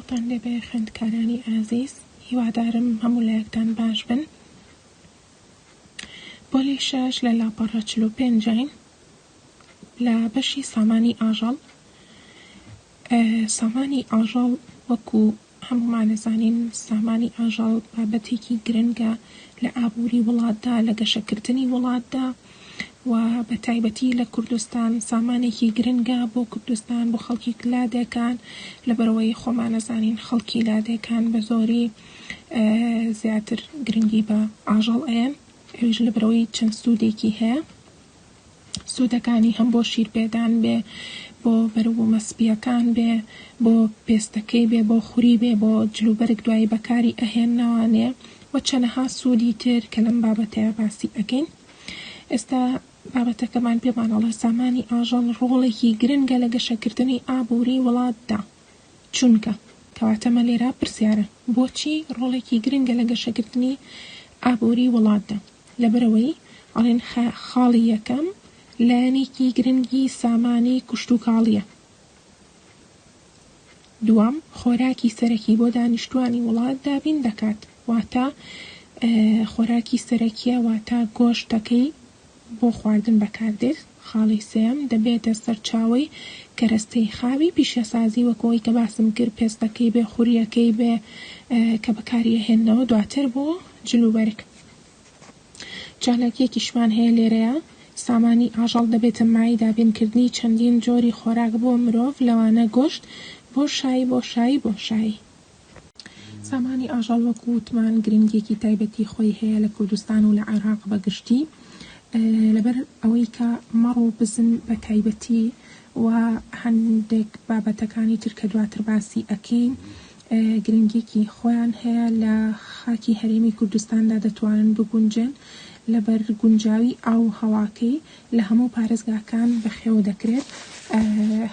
سڵاوتان لێ بێ خوێندکارانی ئازیز هیوادارم هەموو لایەکتان باش بن پۆلی شەش لە لاپەڕە چل و پێنجین لە بەشی سامانی ئاژەڵ سامانی ئاژەڵ وەکو هەموومان ئەزانین سامانی ئاژەڵ بابەتێکی گرنگە لە ئابووری وڵاتدا، لە گەشەکردنی وڵاتدا و بە تایبەتی لە کوردستان سامانێکی گرنگە بۆ کوردستان، بۆ خەڵکی لادێکان، لەبەرئەوەی خۆمان ئەزانین خەڵکی لادێکان بە زۆری زیاتر گرنگی بە ئاژەڵ ئەیەن، ئەویش لەبەرئەوەی چەند سوودێکی هەیە. سوودەکانی هەم بۆ شیرپێدان بێ، بۆ بەروبوومە سپییەکان بێ، بۆ پێستەکەی بێ، بۆ خوری بێ، بۆ جلوبەرگ دوایی بەکاری ئەهێننەوانێ و چەنەها سوودی تر کە لەم بابەتەیا باسی ئەکەین. ئێستا بابەتەکەمان پێمان ئەڵێ سامانی ئاژەڵ ڕۆڵێکی گرنگە لە گەشەکردنی ئابووری وڵاتدا. چونکە. کەواتە مە لێرا پرسیارە بۆچی ڕۆڵێکی گرنگە لە گەشەکردنی ئابووری وڵاتدا؟ لەبەرئەوەی ئەڵێن خاڵی یەکەم لایەنێکی گرنگی سامانی کشتوکاڵیە. دووەم، خۆراکی سەرەکی بۆ دانیشتوانی وڵات دابین دەکات، واتە خۆراکی سەرەکیە واتە گۆشتەکەی بۆ خواردن بەکاردێت. خاڵی سێیەم، دەبێتە سەرچاوەی کەرەستەی خاوی پیشەسازی وەک ئەوەی کە باسم کرد پێستەکەی بێ خوریەکەی بێ کە بەکاری ئەهێننەوە دواتر بۆ جلوبەرگ. چالاکییەکیشمان هەیە لێرەیا، سامانی ئاژەڵ دەبێتە مایەی دابینکردنی چەندین جۆری خۆراک بۆ مرۆڤ لەوانە گۆشت، بۆشایی، بۆشایی، بۆشایی. سامانی ئاژەڵ وەکو وتمان گرنگییەکی تایبەتی خۆی هەیە لە کوردستان و لە عێراق بە گشتی لەبەر ئەوەی کە مەڕ و بزن بە تایبەتی و هەندێک بابەتەکانی تر کە دواتر باسی ئەکەین گرنگیی خۆیان هەیە لە خاکی هەرێمی کوردستاندا دەتوانن بگونجێن لەبەر گونجاوی ئاو و هەواکەی لە هەموو پارێزگاکان بەخێو دەکرێت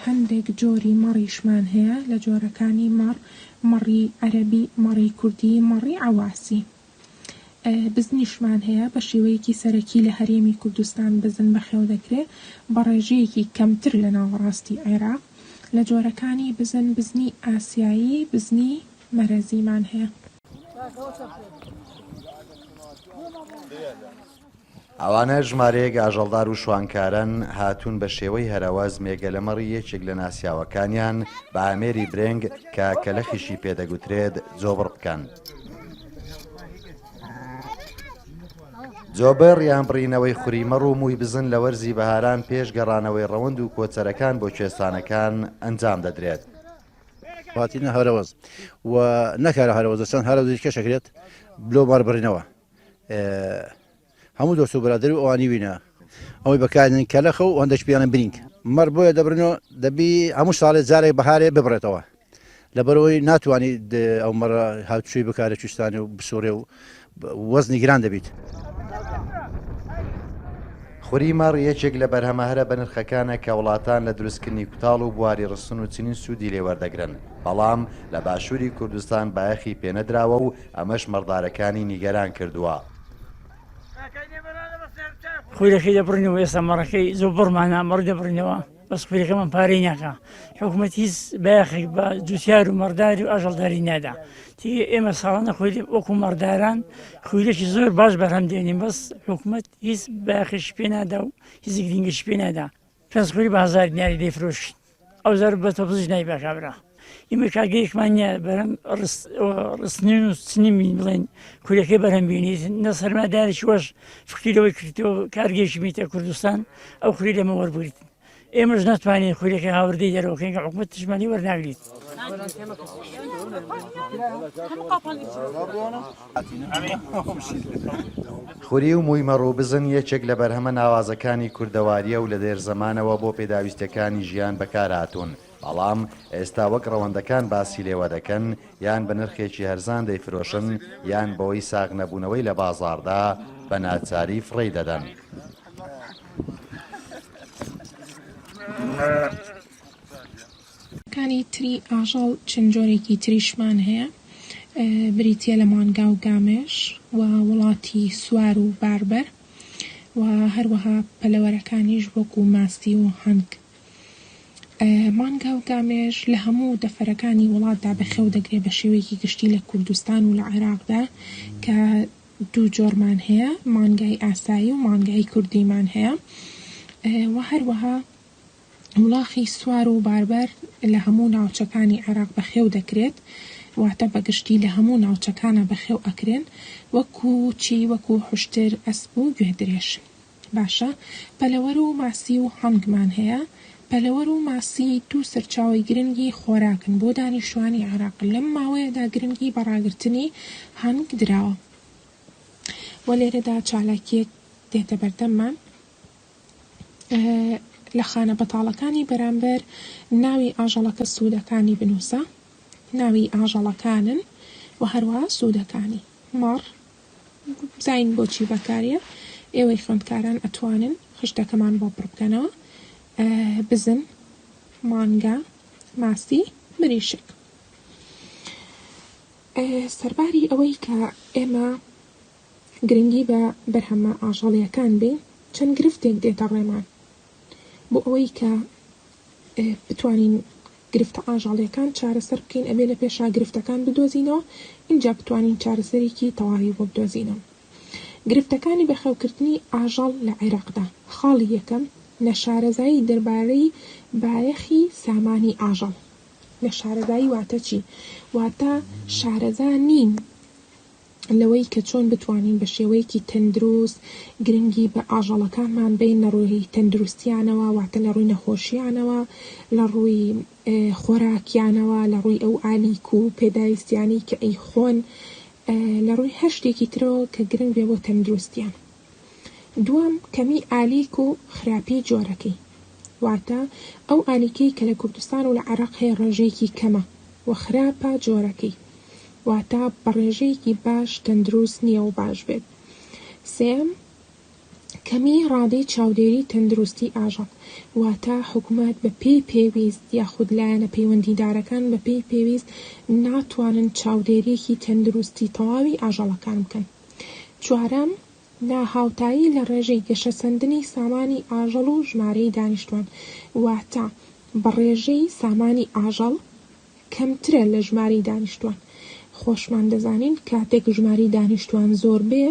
هەندێک جۆری مەڕیشمان هەیە لە جۆرەکانی مەڕ، مەڕی عەرەبی، مەڕی کوردی، مەڕی عەواسی. بزنیشمان هەیە، بە شێوەیەکی سەرەکی لە هەرێمی کوردستان بزن بەخێو دەکرێ بە ڕێژەیەکی کەمتر لە ناوەڕاستی عێراق. لە جۆرەکانی بزن، بزنی ئاسیایی، بزنی مەرەزیمان هەیە. ئەوانە ژمارەیەک ئاژەڵدار و شوانکارەن، هاتوون بە شێوەی هەرەوەز مێگەلە مەڕی یەکێک لە ناسیاوەکانیان بە ئامێری برێنگ کە کەلەخیشی پێ دەگوترێت، جۆبڕ بکەن. جۆبڕ یان بڕینەوەی خوری مەڕ و مووی بزن لە وەرزی بەهاران پێش گەڕانەوەی ڕەوەند و کۆچەرەکان بۆ کوێستانەکان ئەنجام دەدرێت. هاتنە هەرەوەز و نەکارە هەرەوەزە چەند هەرەوزی دیکەش ئەکرێت لۆ مەڕ بڕینەوە. هەموو دۆست و برادری و ئەوانی وینە ئەوەی بەکارێن کەلەخە و هەندەش پیانە برینگ مەڕ بۆیە دەبرنەوە دەبی هەموو ساڵێ جارێک بەهارێ ببڕێتەوە لەبەرەوەی ناتوانانی ئەو مەڕە هاوچوی بکارە چستانی و بسوڕێ و وەزنی گران دەبیت. خوری مەڕ یەکێک لە بەرهەمە هەرە بەنرخەکانە کە وڵاتان لە دروستکردنی کوتاڵ و بواری ڕستن و چنین سوودی لێ وەردەگرن، بەڵام لە باشووری کوردستان بایەخی پێنەدراوە و ئەمەش مەڕدارەکانی نیگەران کردووە. خولەکەی دەبڕینەوە ئێستا مەڕەکەی زۆر بڕمانە مەڕ دەبڕینەوە بەس خولەکەمان پارەی ناکا حکوومەت هیچ بایەخێک بە جوتیار و مەڕداری و ئاژەڵداری نادا تی ئێمە ساڵانە خوێ وەکو مەڕداران خویلێکی زۆر باش بەرهەم دێنین بەس حکوومەت هیچ بایەخێکی پێ نادا و هیچ گرنگیش پێ نادا کەس خۆی بازاری نیاری دەیفرۆشی ئەو زەرب بە تەپزش نای بە کابرا ئیمە کاگەیشمان نیە بەرەم ڕستنین و سنیمین بڵێن کورەکەی بەرەم بینیت نە سەرمادارش وەش فکری لەوەی کردەوە کارگەیشی میتە کوردستان ئەو خوری لەمە وەربوویت ئێمەش ناتوانین خورەکە هاوردەی دەرەوەکەین کە حکومت تشمانی وەرناگریت خوری و مووی مەڕ و بزن یەکێک لە بەرهەمە ناوازەکانی کوردەوارییە و لە دێر زەمانەوە بۆ پێداویستییەکانی ژیان بەکارهاتوون، بەڵام ئێستا وەک ڕەوەندەکان باسی لێوە دەکەن یان بە نرخێکی هەرزان دەیفرۆشن یان بەوەی ساغ نەبوونەوەی لە بازاڕدا بە ناچاری فڕێی دەدەن. کانی تری ئاژەڵ چەند جۆرێکی تریشمان هەیە بریتیە لە مانگا و گامێش و وڵاتی سوار و باربەر و هەروەها پەلەوەرەکانیش وەکو ماستی و هەنگ. مانگا و گامێش لە هەموو دەفرەکانی وڵاتدا بەخێو دەگرێ بە شێوەیەکی گشتی لە کوردستان و لە عێراقدا کە دوو جۆرمان هەیە مانگای ئاسایی و مانگای کوردیمان هەیە و هەروەها وڵاخی سوار و باربەر لە هەموو ناوچەکانی عێراق بەخێو دەکرێت، واتە بەگشتی لە هەموو ناوچەکانا بەخێو ئەکرێن، وەکو چی وەکو حوشتر، ئەسپ و گوێدرێژ. باشە پەلەوەر و ماسی و هەنگمان هەیە، پەلەوەر و ماسی دوو سەرچاوەی گرنگی خۆراکن بۆ دانیشتوانی عێراق، لەم ماوەیەدا گرنگی بە ڕاگرتنی هەنگ دراوە و لێرەدا چالاکیەک دێتە بەردەممان، لە خانە بەتاڵەکانی بەرامبەر ناوی ئاژەڵەکە سوودەکانی بنووسە، ناوی ئاژەڵەکانن و هەروەها سوودەکانی. مەڕ، بزانین بۆچی بەکاریە، ئێوەی خوێندکاران ئەتوانن خشتەکەمان بۆ پڕ بکەنەوە. بزن، مانگا، ماسی، مریشک. سەرباری ئەوەی کە ئێمە گرنگی بە بەرهەمە ئاژەڵییەکان بین، چەند گرفتێک دێتە ڕێمان بۆ ئەوەی کە بتوانین گرفتە ئاژەڵییەکان چارەسەر بکەین، ئەبێ لە پێشا گرفتەکان بدۆزینەوە، ئینجا بتوانین چارەسەرێکی تەواوی بۆ بدۆزینەوە. گرفتەکانی بەخێوکردنی ئاژەڵ لە عێراقدا، خاڵی یەکەم، نەشارەزایی دەربارەی بایەخی سامانی ئاژەڵ. نەشارەزایی واتە چی؟ واتە شارەزا نین لەوەی کە چۆن بتوانین بە شێوەیەکی تەندروست گرنگی بە ئاژەڵەکانمان بەین لە ڕووی تەندروستییانەوە واتە لە ڕووی نەخۆشییانەوە لە ڕووی خۆراکیانەوە لە ڕووی ئەو ئالیک و پێداویستیانەی کە ئەیخۆن لە ڕووی هەر شتێکی ترەوە کە گرنگ بێ بۆ تەندروستییان. دووەم، کەمیی ئالیک و خراپیی جۆرەکەی، واتە ئەو ئالیکەی کە لە کوردستان و لە عێراق هەیە ڕێژەیەکی کەمە و خراپە جۆرەکەی، واتە بە ڕێژەیەکی باش تەندروست نییە و باش بێت. سێیەم، کەمیی ڕادەی چاودێریی تەندروستیی ئاژەڵ، واتە حکومەت بە پێی پێویست یاخود لایەنە پەیوەندیدارەکان بە پێی پێویست ناتوانن چاودێرییەکی تەندروستی تەواوی ئاژەڵەکان بکەن. چوارەم، ناهاوتایی لە ڕێژەی گەشەسەندنی سامانی ئاژەڵ و ژمارەی دانیشتوان، واتە بە ڕێژەی سامانی ئاژەڵ کەمترە لە ژمارەی دانیشتوان، خۆشمان دەزانین کاتێک ژمارەی دانیشتوان زۆر بێ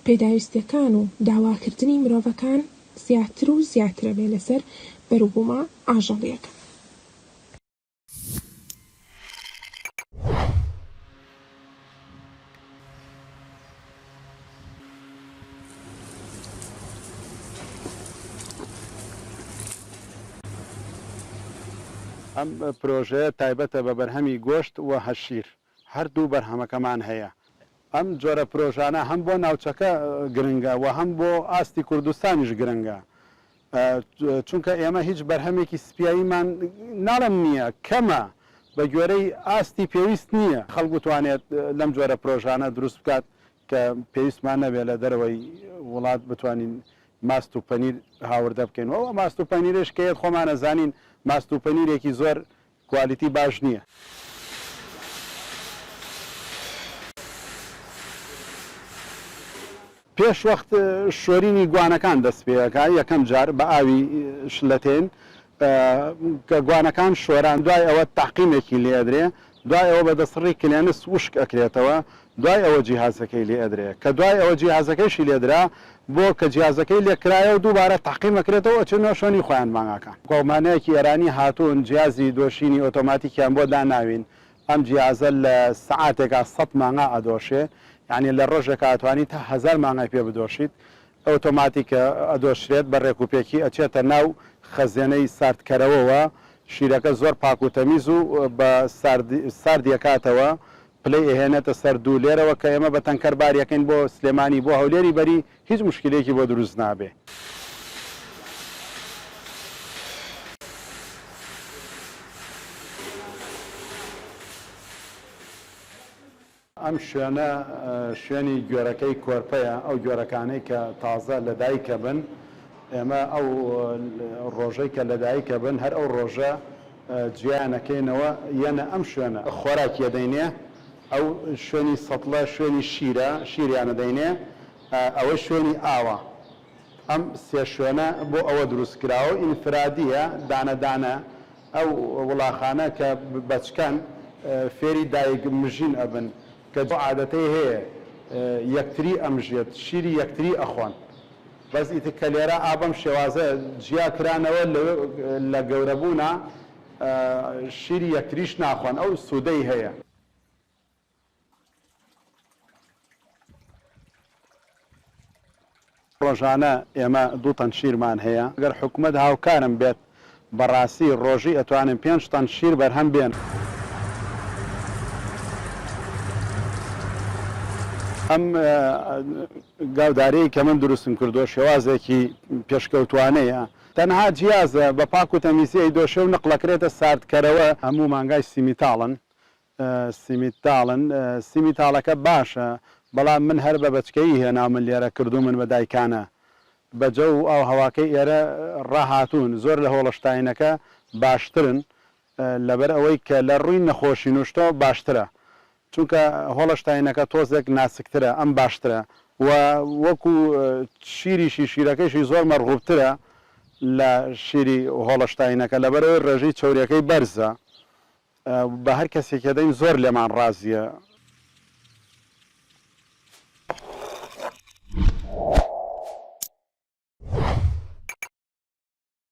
پێداویستیەکان و داواکردنی مرۆڤەکان زیاتر و زیاترەبێ لەسەر بەروبومە ئاژەڵیەکە. ئەم پرۆژەیە تایبەتە بە بەرهەمی گۆشت و هەشیر. هەردوو بەرهەمەکەمان هەیە. ئەم جۆرە پرۆژانە هەم بۆ ناوچەکە گرنگە و هەم بۆ ئاستی کوردستانیش گرنگە، چونکە ئێمە هیچ بەرهەمێکی سپیاییمان ناڵێم نییە، کەمە، بە گوێرەی ئاستی پێویست نییە. خەڵک بتوانێت لەم جۆرە پرۆژانە دروست بکات کە پێویستمان نەبێت لە دەرەوەی وڵات بتوانین ماست و پەنیر هاوردە بکەین و ئەو ماست و پەنیرەیش کە یەت خۆمان ئەزانین ماست و پەنیرێکی زۆر کوالیتی باش نیە. پێش وەخت شۆرینی گوانەکان دەست پێەکا یەکەم جار بە ئاوی شلەتێن کە گوانەکان شۆران دوای ئەوە تەعقیمێکی لێ ئەدرێ دوای ئەوە بە دەسڕی کلێنس وشک ئەکرێتەوە دوای ئەوە جیهازەکەی لێ ئەدرێ کە دوای ئەوە جیهازەکەیشی لێ درا بۆ کە جیازەکەی لێ کرایەوە دووبارە تەعقیم ئەکرێتەوە ئەچێنە شوێنی خۆیان مانگاکان. کۆمپانیایەکی ئێرانی هاتوون جیازی دۆشینی ئۆتۆماتیکیان بۆ داناوین ئەم جیازە لە سەعاتێکا سەد مانگا ئەدۆشێ یانی لە ڕۆژێکا ئەتوانی تا هەزار مانگای پێ بدۆشیت ئۆتۆماتیکە ئەدۆشرێت بە ڕێک و پێکی ئەچێتە ناو خەزێنەی ساردکەرەوەوە شیرەکە زۆر پاک و تەمیز و بە ساردی ساردی ئەکاتەوە پلەی ئەهێنێتە سەر دوو، لێرەوە کە ئێمە بە تەنکەر بار یەکەین بۆ سلێمانی بۆ هەولێری بەری هیچ موشکیلەیەکی بۆ دروست نابێ. ئەم شوێنە شوێنی گوێرەکەی کۆرپەیە ئەو گوێرەکانەی کە تازە لە دایکەبن ئێمە ئەو ڕۆژەی کە لە دایکەبن هەر ئەو ڕۆژە جیایان ئەکەینەوە یەنە ئەم شوێنە خۆراکی ئەدەینێ ئەو شوێنی سەتڵە شوێنی شیرە شیریان ئەدەینێ ئەوەی شوێنی ئاوە ئەم سێ شوێنە بۆ ئەوە دروست کراوە ئینفرادیە دانە دانە ئەو وڵاخانە کە بەچکەن فێری دایک مژین ئەبن کە عادەتەی هەیە یەکتری ئەمژێت شیری یەکتری ئەخۆن. بەس ئیتر کە لێرە ئا بەم شێوازە جیا کرانەوە لەوێ لە گەورە بوونا شیری یەکتریش ناخۆن ئەو سوودەی هەیە. ڕۆژانە ئێمە دوو تەن شیرمان هەیە، گەر حکومەت هاوکارم بێت بەڕاستی ڕۆژی ئەتوانن پێنج تەن شیر بەرهەم بێن. ئەم گاودارەی کە من دروستم کردووە شێوازێکی پێشکەوتوانەیە تەنها جیازە بە پاک و تەمیزی ئەیدۆشێ و نقڵەکرێتە ساردکەرەوە. هەموو مانگای سیمیتاڵن سیمیتاڵن سیمیتاڵەکە باشە بەڵام من هەر بە بەچکەیی هێناومن لێرە کردوومن بە دایکانە بە جەو و ئاو هەواکەی ئێرە ڕاهاتوون زۆر لە هۆڵشتاینەکە باشترن لەبەر ئەوەی کە لە ڕووی نەخۆشی نوشتۆ باشترە چونکە هۆڵشتاینەکە تۆزێک ناسکترە ئەم باشترە و وەکو شیریشی شیرەکەیشی زۆر مەرغوبترە لە شیری هۆڵشتاینەکە لەبەرئەوەی ڕێژەی چەوریەکەی بەرزە بە هەر کەسێکی دەین زۆر لێمان ڕازیە.